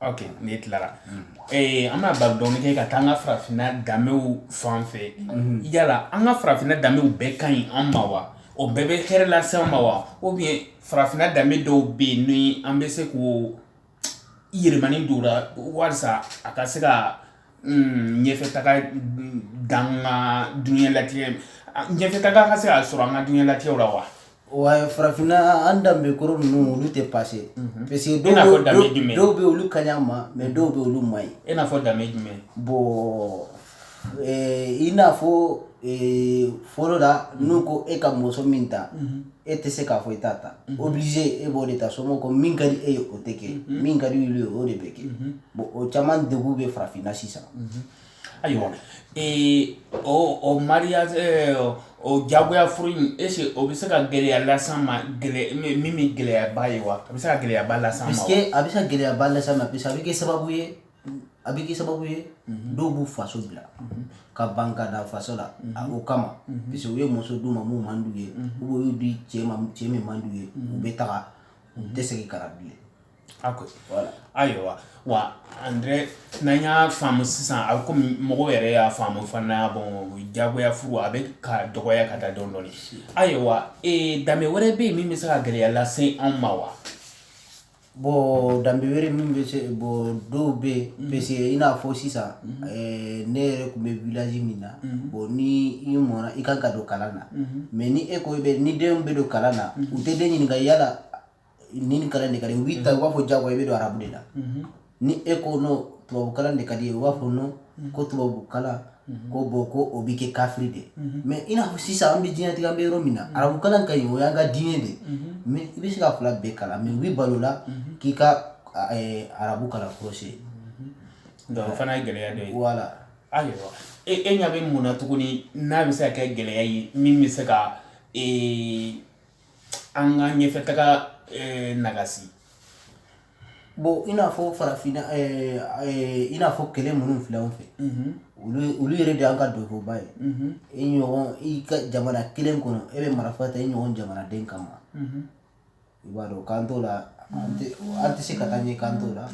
ok ne tilara ee an bɛna baro dɔɔni kɛ ka taa an ka farafinna danbew fan fɛ yala an ka farafinna danbew bɛɛ ka ɲi an ma wa o bɛɛ bɛ hɛrɛ lase an ma wa ou bien farafinna danbe dɔw bɛ yen ni an bɛ se k'o yɛlɛmani don o la walisa a ka se ka Hmm, ɲɛfɛ taga dan ka dunya latigɛ ɲɛfɛ taga ka se ka sɔrɔ an ka dunya latigɛw la wa wa farafinna an danbe kɔrɔ ninnu olu tɛ passé mhm. parce que dɔw bɛ olu ka ɲi an ma mais mhm. dɔw bɛ olu man ɲi i n'a fɔ danbe jumɛn bon eh, i n'a fɔ eh, fɔlɔ la n'u ko e ka muso min ta mhm. e tɛ se k'a fɔ i t'a ta mhm. obligé e b'o de ta somɔgɔw ko min ka di e ye o tɛ kɛ mhm. min ka di olu ye o de bɛ kɛ mhm. bon o caman degun bɛ farafinna sisan ayiwa o o mariage eh, o jagoya furu in est-ce que o bɛ se ka gɛlɛya las'an ma gɛlɛ min bɛ gɛlɛyaba ye wa a bɛ se ka gɛlɛyaba las'an ma wa parce que a bɛ se ka gɛlɛyaba las'an ma parce que a bɛ kɛ sababu ye a bɛ kɛ sababu ye dɔw b'u faso bila ka ban ka da faso la a o kama parce que u ye muso d'u ma min man d'u ye ou bien u y'u di cɛ ma cɛ min man d'u ye u bɛ taga u tɛ segin ka na bilen a ko voilà ayiwa wa André n'an y'a faamu sisan a bɛ komi mɔgɔw yɛrɛ y'a faamu fana bon jagoya furu a bɛ ka dɔgɔya ka taa dɔɔni dɔɔni ayiwa ee danbe wɛrɛ bɛ yen min bɛ se ka gɛlɛya lase anw ma wa bon danbe wɛrɛ min bɛ se bon dɔw bɛ yen mhm. parce que i n'a fɔ sisan mhm. eh, ne yɛrɛ tun bɛ village min na mhm. bon ni i mɔna i kan ka don kalan na mais ni e ko i bɛ ni denw bɛ don kalan na u tɛ den ɲininka yala ni nin kalan de ka di u b'i ta u b'a fɔ jagoya i bɛ don arabu de la ni e ko non tubabukalan de ka d'i ye u b'a fɔ non ko tubabukalan ko bon ko o bɛ kɛ kafiri de mais i n'a fɔ sisan an bɛ diɲɛlatigɛ an bɛ yɔrɔ min na arabukalan ka ɲi o y'an ka diinɛ de mais i bɛ se ka fila bɛɛ kalan mais u bɛ ban o la k'i ka arabu kalan kɔlɔsi donc o fana ye gɛlɛya dɔ ye voilà ayiwa e e ɲɛ bɛ mun na tuguni n'a bɛ se ka kɛ gɛlɛya ye min bɛ se ka an ka ɲɛfɛ taga nagasi Bon i n'a fɔ farafinna i n'a fɔ kɛlɛ minnu filɛ an fɛ olu yɛrɛ de y'an ka doniba ye i i ka jamana kelen kɔnɔ e bɛ marifa ta i ɲɔgɔn jamanaden kama i b'a dɔn k'an t'o la an tɛ se ka taa ɲɛ k'an t'o la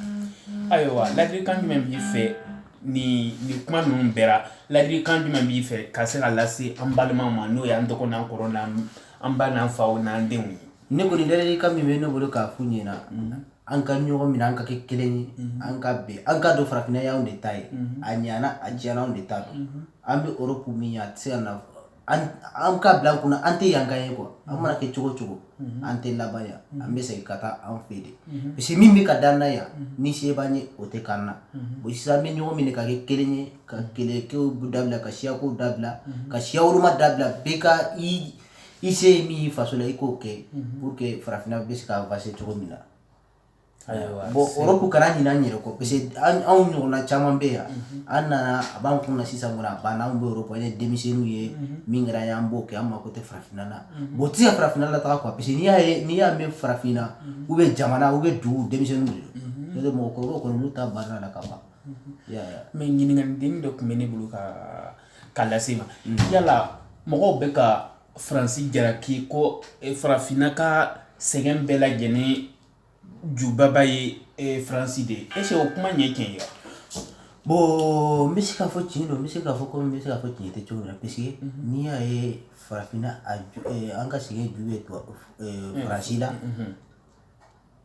ayiwa ladilikan jumɛn b'i fɛ ni nin kuma ninnu bɛɛ la ladilikan jumɛn b'i fɛ ka se ka lase an balimaw ma n'o y'an dɔgɔ n'an kɔrɔ an ba n'an fa o n'an denw ye ne kɔni ladilikan min bɛ ne bolo k'a f'u ɲɛna an ka ɲɔgɔn minɛ an ka kɛ kelen ye an ka bɛn an k'a dɔn farafinna y'anw de ta ye a ɲana a diyara anw de ta don an bɛ Europe min ye a tɛ se ka na an an k'a bila an kun na an tɛ yankaw ye quoi an mana kɛ cogo cogo an tɛ laban yan an bɛ segin ka taa an fɛ de parce que min bɛ ka d'an na yan ni se b'an ye o tɛ k'an na o sisan an bɛ ɲɔgɔn minɛ ka kɛ kelen ye ka kɛlɛkow dabila ka siyakow dabila ka siya woloma dabila bɛɛ ka i i se ye min ye faso la i k'o kɛ pour que farafinna bɛ se ka avancer cogo min na bon Europe kana ɲina an yɛrɛ kɔ parce que anw ɲɔgɔnna caman bɛ yan an nana a b'an kun na sisan kɔni a banna anw bɛ Europe an ye denmisɛnninw ye min kɛra yan an b'o kɛ an mako tɛ farafinna na bon o tɛ se ka farafinna lataga quoi parce que n'i y'a ye n'i y'a mɛn farafinna ou bien jamana ou bien dugu denmisɛnninw de don n'o tɛ mɔgɔkɔrɔbaw kɔni olu ta banna la ka ban mais ɲininkali dennin dɔ tun bɛ ne bolo ka k'a lase i ma yala mɔgɔw bɛ ka faransi jalaki ko eh, farafinna ka sɛgɛn bɛɛ lajɛlen jubaba ye eh, faransi de ye est-ce que o kuma in ye tiɲɛ ye wa bon n bɛ se k'a fɔ tiɲɛ don n bɛ se k'a fɔ komi n bɛ se k'a fɔ tiɲɛ tɛ cogo min na parce que n'i y'a ye farafinna a ju eh, an ka sɛgɛn ju bɛ tubabu eh, faransi la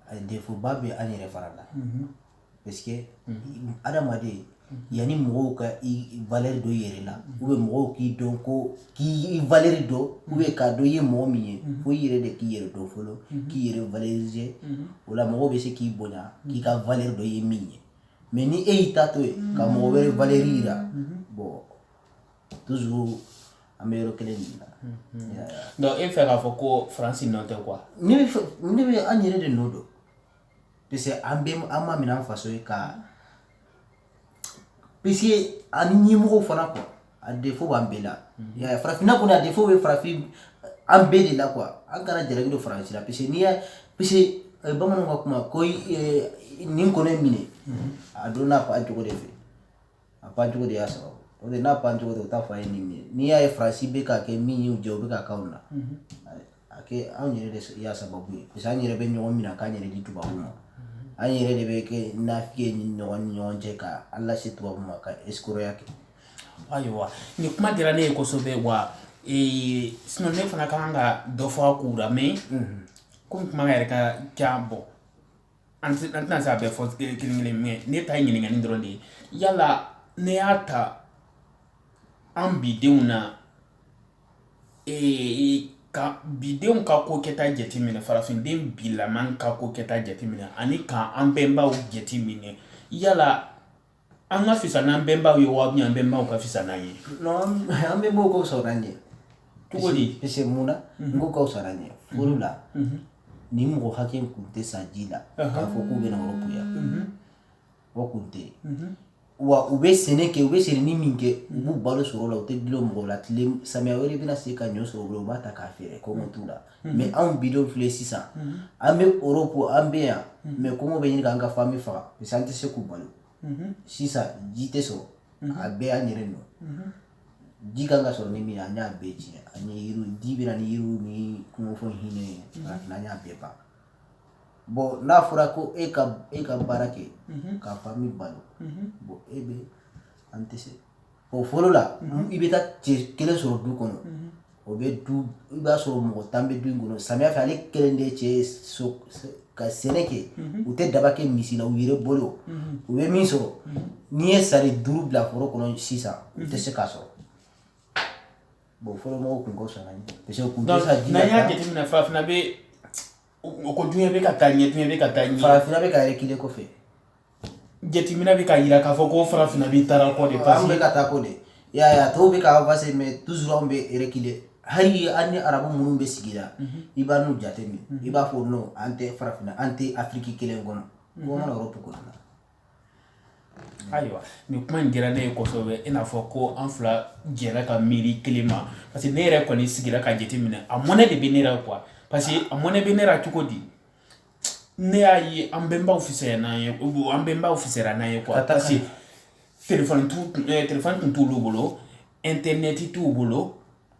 a défaut ba bɛ an yɛrɛ fana la parce que adamaden yanni mɔgɔw ka i valeur dɔn i yɛrɛ la ou bien mɔgɔw k'i dɔn ko k'i valeur dɔn ou bien k'a dɔn i ye mɔgɔ min ye fo i yɛrɛ de k'i yɛrɛ dɔn fɔlɔ k'i yɛrɛ valoriser o la mɔgɔw bɛ se k'i bonya k'i ka valeur dɔn i ye min ye mais ni e y'i ta to yen ka mɔgɔ wɛrɛ valeur yira bon toujours an bɛ yɔrɔ kelen de la donc e fɛ k'a fɔ ko faransi nɔ tɛ quoi ne bɛ an yɛrɛ de nɔ don parce que an bɛ an ma minɛ an faso ye ka parce que ani ɲɛmɔgɔw fana quoi a défaut b'an bɛɛ la farafinna kɔni a défaut bɛ farafin an bɛɛ de la quoi an kana jalaki don faransi la parce que n'i y'a parce que bamananw ka kuma ko nin kɔnɔ minɛ a dɔnna a pan cogo de fɛ a pan cogo de y'a sababu o de n'a pan cogo tɛ u t'a fɔ a ye nin minɛ n'i y'a ye faransi bɛ k'a kɛ min y'u jɛ o bɛ k'a k'anw na a kɛ anw yɛrɛ de y'a sababu ye parce que an yɛrɛ bɛ ɲɔgɔn minɛ k'an yɛrɛ di tubabu ma an yɛrɛ de bɛ kɛ nafiki ye ni ɲɔgɔn ni ɲɔgɔn cɛ ka an lase tubabu ma ka escroqueya kɛ ayiwa nin kuma diyara ne ye kosɛbɛ wa ee sinɔn ne fana ka kan ka dɔ fɔ a kow la mais komi kuma yɛrɛ ka ca bon an tɛna se a bɛɛ fɔ kelen kelen mais ne ta ye ɲininkali dɔrɔn de ye yala ne y'a ta an bidenw na ee ka bidenw ka ko kɛta jateminɛ farafinden bilaman ka ko kɛta jateminɛ ani ka an bɛnbaw jateminɛ yala an ka fisa n'an bɛnbaw ye wa an bɛnbaw ka fisa n'an ye an bɛnbaw ka fisa n'an ye cogo di parce que mun na n k'u ka fisa n'an ye fɔlɔ la nin mɔgɔ hakɛ kun tɛ sa ji la k'a fɔ k'u bɛna europe yan o kun tɛ yen wa u bɛ sɛnɛ kɛ u bɛ sɛnɛ ni min kɛ u b'u balo sɔrɔ o la u tɛ dulon mɔgɔ la tile samiya wɛrɛ bɛna se ka ɲɔ sɔrɔ u bolo u b'a ta k'a feere kɔngɔ t'u la mais anw bidenw filɛ sisan an bɛ europe an bɛ yan mais kɔngɔ bɛ ɲini k'an ka fami faga parce an tɛ se k'u balo sisan ji tɛ sɔrɔ a bɛɛ y'an yɛrɛ nɔ ji kan ka sɔrɔ ni min ye an y'a bɛɛ tiɲɛ an ye yiriw ji bɛ na ni yiriw ni kungofɛnw hinɛ ye an y'a bɛɛ ban bon n'a fɔra ko e ka e ka baara kɛ ka fami balo bon e bɛ an tɛ se o fɔlɔ la i bɛ taa cɛ kelen sɔrɔ du kɔnɔ o bɛ du i b'a sɔrɔ mɔgɔ tan bɛ du in kɔnɔ samiya fɛ ale kelen de cɛ so ka sɛnɛ kɛ u tɛ daba kɛ misi la u yɛrɛ bolo u bɛ min sɔrɔ n'i ye sari duuru bila foro kɔnɔ sisan u tɛ se k'a sɔrɔ bon fɔlɔ mɔgɔw tun ka fisa n'an ye parce que u tun tɛ sa ji la n'an y'a jateminɛ farafinna bɛ o ko duɲɛ bɛ ka taa ɲɛ duɲɛ bɛ ka taa ɲɛ farafinna bɛ ka reculer kɔfɛ jateminɛ bɛ k'a yira k'a fɔ ko farafinna bɛ taara kɔ de parce que an bɛ ka taa kɔ de y'a ye a tɔw bɛ ka avancer mais toujours anw bɛ reculer hali an ni arabu minnu bɛ sigi la i b'a n'u jateminɛ i b'a fɔ non an tɛ farafinna an tɛ afiriki kelen kɔnɔ ko mana europe kɔnɔ ayiwa nin kuma in diyara ne ye kosɛbɛ i n'a fɔ ko an fila jɛra ka miiri kelen ma parce que ne yɛrɛ kɔni sigira ka jateminɛ a mɔnɛ de bɛ ne la quoi parce que a mɔnɛ bɛ ne la cogo di ne y'a ye an bɛnbaw fisayara n'an ye an bɛnbaw fisayara n'an ye quoi parce que telefɔni t'u eh, telefɔni tun t'olu bolo intɛrnɛti t'u bolo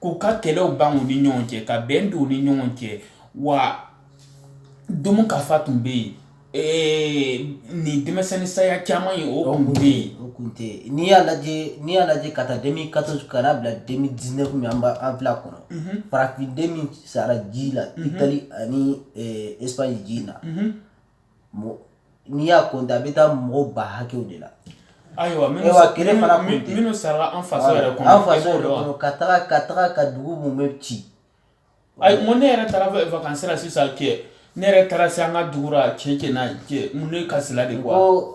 k'u ka kɛlɛw ban u ni ɲɔgɔn cɛ ka bɛn don u ni ɲɔgɔn cɛ wa domu ka fa tun bɛ yen ee nin denmisɛnnin saya caman ye o kun tɛ yen o kun tɛ yen n'i y'a lajɛ n'i y'a lajɛ ka taa deux mille quatorze ka n'a bila deux mille dix-neuf min an b'a an filɛ a kɔnɔ farafin den min sara ji la itali ani espagne ji in na n'i y'a compter a bɛ taa mɔgɔw ba hakɛw de la ayiwa kelen fana minnu sara an faso yɛrɛ an faso ka taga ka taga ka dugu minnu bɛ ci ayi ko ne yɛrɛ taara vacances la sisan kɛ ne yɛrɛ taara se an ka dugu la cɛ n'a ye cɛ mun ne kasila de ko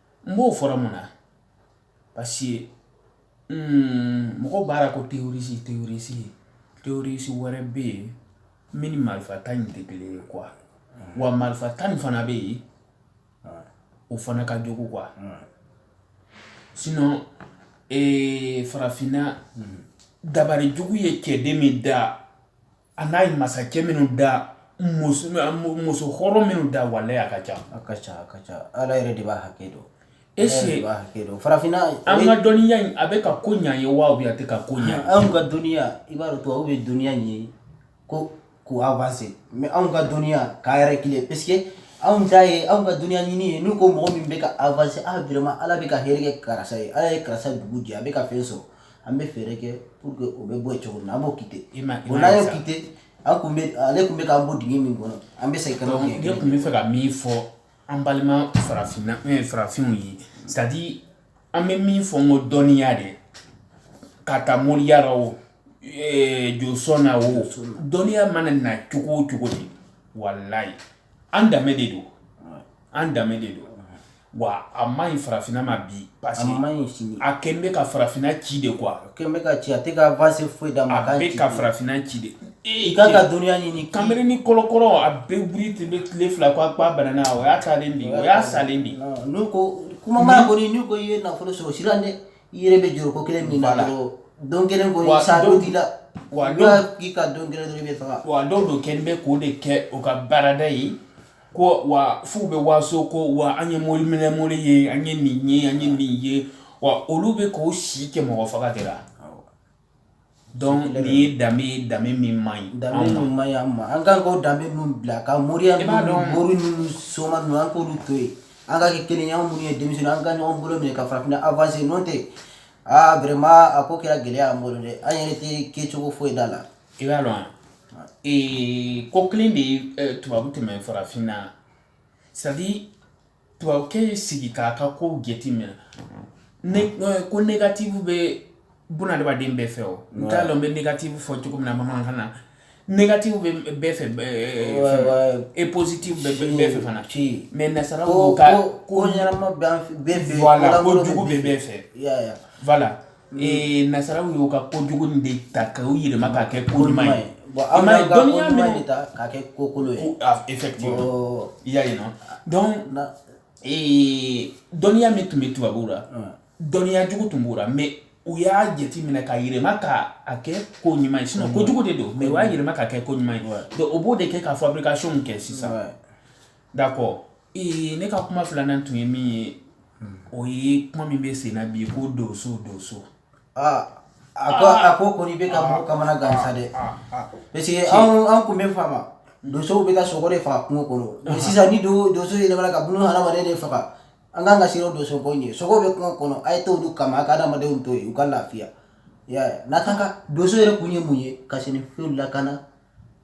n b'o fɔra mun na parce que mm, mɔgɔw b'a la ko terroriste terroriste terroriste wɛrɛ bɛ yen min ni marifa ta in tɛ kelen ye quoi wa marifa ta nin fana bɛ yen o fana ka jugu quoi sinon ee, farafinna dabari jugu ye cɛden min da a n'a ye masakɛ minnu da muso muso hɔrɔn minnu da walayi a ka ca a ka ca a ka ca ala yɛrɛ de b'a hakɛ dɔn est-ce que farafinna an ka dɔnniya in a bɛ ka ko ɲɛ ye wa a tɛ ka ko ɲɛ anw ka dɔnniya i b'a dɔn tubabu bɛ dɔnniya ɲɛ ko k'u avancer mais anw ka dɔnniya k'a reculer parce que anw ta ye anw ka dɔnniya ɲini ye n'u ko mɔgɔ min bɛ ka avancer ah vraiment ala bɛ ka hɛrɛ kɛ karisa ye ala ye karisa dugu jɛ a bɛ ka fɛn sɔrɔ an bɛ fɛɛrɛ kɛ pour que o bɛ bɔ yen cogo min na an b'o quitter i ma o n'an y'o quitter an kun bɛ ale kun bɛ k'an bɔ dingɛ min kɔnɔ an bɛ segin ka na o dingɛ ne tun bɛ fɛ ka min fɔ an balima farafinna eh, farafinw ye c'est à dire an bɛ min fɔ n ko dɔnniya de ka taa moriya la o eh, josɔn na o dɔnniya mana na cogo o cogo de walayi an danbe de don an danbe de don wa a man ɲi farafinna ma bi parce que a man ɲi sini a kɛn bɛ ka farafinna ci de quoi a kɛn bɛ ka ci a tɛ ka avance foyi d'a ma a bɛ ka farafinna ci de i kan ka dɔnniya ɲini kanberenin kɔlɔkɔlɔ a bɛ wuli ten bɛ tile fila ko a k'a banana o y'a taalen de o y'a salen de n'u ko kuma mana kɔni n'u ko i ye nafolo sɔrɔ siran dɛ i yɛrɛ bɛ jɔrɔ ko kelen min na dɔrɔn don kelen kɔni sa dɔ t'i la wa dɔw k'i ka don kelen dɔrɔn i bɛ faga wa dɔw don kɛn bɛ k'o de kɛ o ka baarada ye Ko wa f'u bɛ waso ko wa an ye mori minɛɛnɛmo ye an ye nin ye an ye nin ye wa olu bɛ k'u si kɛ mɔgɔ faga de la donc nin ye danbe danbe min man ɲi danbe man ɲi an ma an kan k'o danbe nin bila ka moriya b'a dɔn mori ninnu soma ninnu an k'olu to yen an ka kɛ kelen ye anw minnu ye denmisɛn an ka ɲɔgɔn bolo minɛ ka farafinna avancer n'o tɛ aa vraiment a ko kɛra gɛlɛya an bolo dɛ an yɛrɛ tɛ kɛcogo foyi da la I b'a dɔn ee ko kelen de ye tubabu tɛmɛ farafin na c'est à dire tubabukɛ y'i sigi k'a ka ko jate minɛ ko négatif bɛ bunadamaden bɛɛ fɛ o n t'a dɔn n bɛ négatif fɔ cogo min na bamanankan na négatif bɛ bɛɛ fɛ et positif bɛ bɛɛ fɛ fana ciyɛn mais nasaraw ka ko ɲɛnama bɛ bɛɛ fɛ ko jugu bɛ bɛɛ fɛ Ee nasaraw y'u ka ko jugu nin de ta k'o yɛlɛma ka kɛ ko ɲuman ye bon anw bɛ dɔnniya nin de ta ka kɛ ko kolon ye effectivement i y'a ye non donc ee dɔnniya min tun bɛ tubabuw la dɔnniya jugu tun b'u la mais u y'a jate minɛ ka yɛlɛma ka a kɛ ko ɲuman ye sinon ko jugu de don mais u y'a yɛlɛma ka kɛ ko ɲuman ye donc o b'o de kɛ ka fabrication kɛ sisan d'accord Ee ne ka kuma filanan tun ye min ye o ye kuma min bɛ senna bi ko donso donso a ko a ko kɔni bɛ ka mɔgɔ kamana gan sa dɛ parce que an tun bɛ faamu donsow bɛ ka sogo de faga kungo kɔnɔ sisan ni don donso yɛlɛmana k'a bɛna hadamaden de faga an ka kan ka siran donso ko ɲɛ sogo bɛ kungo kɔnɔ a ye taa olu kama a ka hadamadenw to yen u ka lafiya n'a kan ka donso yɛrɛ kun ye mun ye ka sɛnɛfɛnw lakana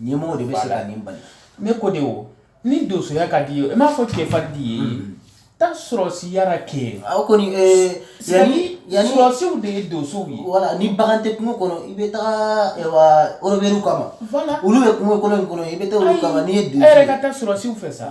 Ɲɛmɔgɔw de bɛ se ka nin bali ne ko de ni donsoya ka di ye i m'a fɔ cɛ fa di ye taa sɔrɔsiya ra kɛ aw kɔni yan sɔrɔsiw de ye donsow ye voilà ni bagan tɛ kungo kɔnɔ i bɛ taa rebɛliw kama olu bɛ kungo kolon in kɔnɔ i bɛ taa olu kama n'i ye donso ye e yɛrɛ ka taa sɔrɔsiw fɛ sa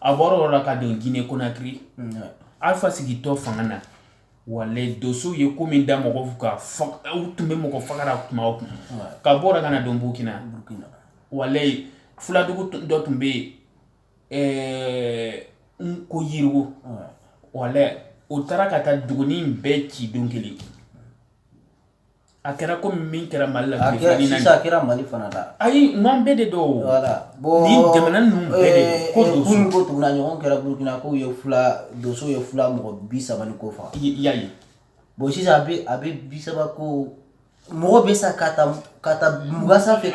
a bɔra o la ka don gine konakiri alfa sigitɔ fanga na walayi dosow ye ko min da mɔgɔw kan u tun bɛ mɔgɔ fagara kuma o kuma ka bɔ o la ka na don burukina burukina walayi fuladugu dɔ tun bɛ yen ko yirigu walayi o taara ka taa dugunin bɛɛ ci don kelen A kɛra ko min kɛra mali la a kɛra mali fana la ayi an bɛɛ de don ni jamana ninnu ko ko tugun a ɲɔgɔn kɛra burukina ko donso ye fila mɔgɔ bi saba ni kɔ faga bon sisan a bɛ bi saba ko mɔgɔ bɛ sa ka taa mugan sanfɛ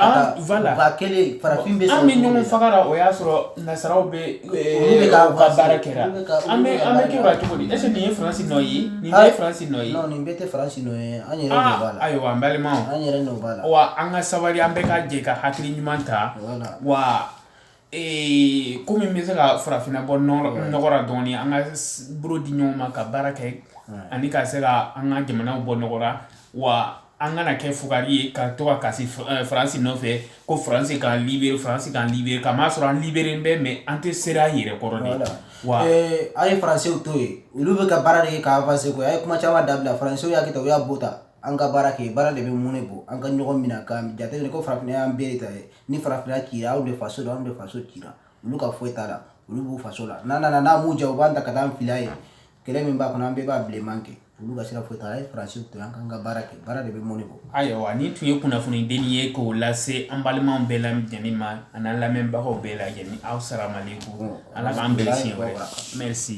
kelen farafin bɛ ɲɔgɔn faga o y'a sɔrɔ nasaraw bɛ Bɛ ka baara kɛra an bɛ an bɛ kɛ cogo di est-ce que nin ye faransi nɔ ye nin bɛɛ ye faransi nɔ ye nin bɛɛ tɛ faransi nɔ ye an yɛrɛ nɔ b'a la ayiwa an balimaw an yɛrɛ nɔ b'a la wa an ka sabali an bɛɛ ka jɛ ka hakili ɲuman ta wa ee ko min bɛ se ka farafinna bɔ nɔgɔ ra dɔɔnin an ka bolo di ɲɔgɔn ma ka baara kɛ ani ka se ka an ka jamanaw bɔ nɔgɔ ra wa an kana kɛ fugari ye ka to ka kasi eh, faransi nɔfɛ ko faransi k'an libere faransi k'an libere k'a masɔrɔ an liberelen bɛ mais an tɛ sera an yɛrɛ kɔrɔ de wa eh, a ye faransiw to yen olu bɛ ka baara de kɛ ka avanse koyi a ye kuma caman dabila faransiw y'a kɛ tan u y'a bɔ tan an ka baara kɛ baara de bɛ mɔnɛ bɔ an ka ɲɔgɔn minɛ ka jateminɛ ko farafinna y'an bɛɛ de ta ye ni farafinna cira anw de faso don anw de faso cira olu ka foyi t'a la olu b'u faso la n'a nana n'a m'u ja u b'an ta ka taa an fili yen kɛlɛ min b'a kɔnɔ an bɛɛ b'a bilenman kɛ olu ka sira foyi t'a la a ye faransiw to an k'an ka baara kɛ baara de bɛ mɔnɛ bɔ ayiwa nin tun ye kunnafoni dennin ye k'o lase an balimaw bɛɛ lajɛlen ma an'an lamɛnbagaw bɛɛ lajɛlen asalamalekum ala k'an bɛn siɲɛ wɛrɛ merci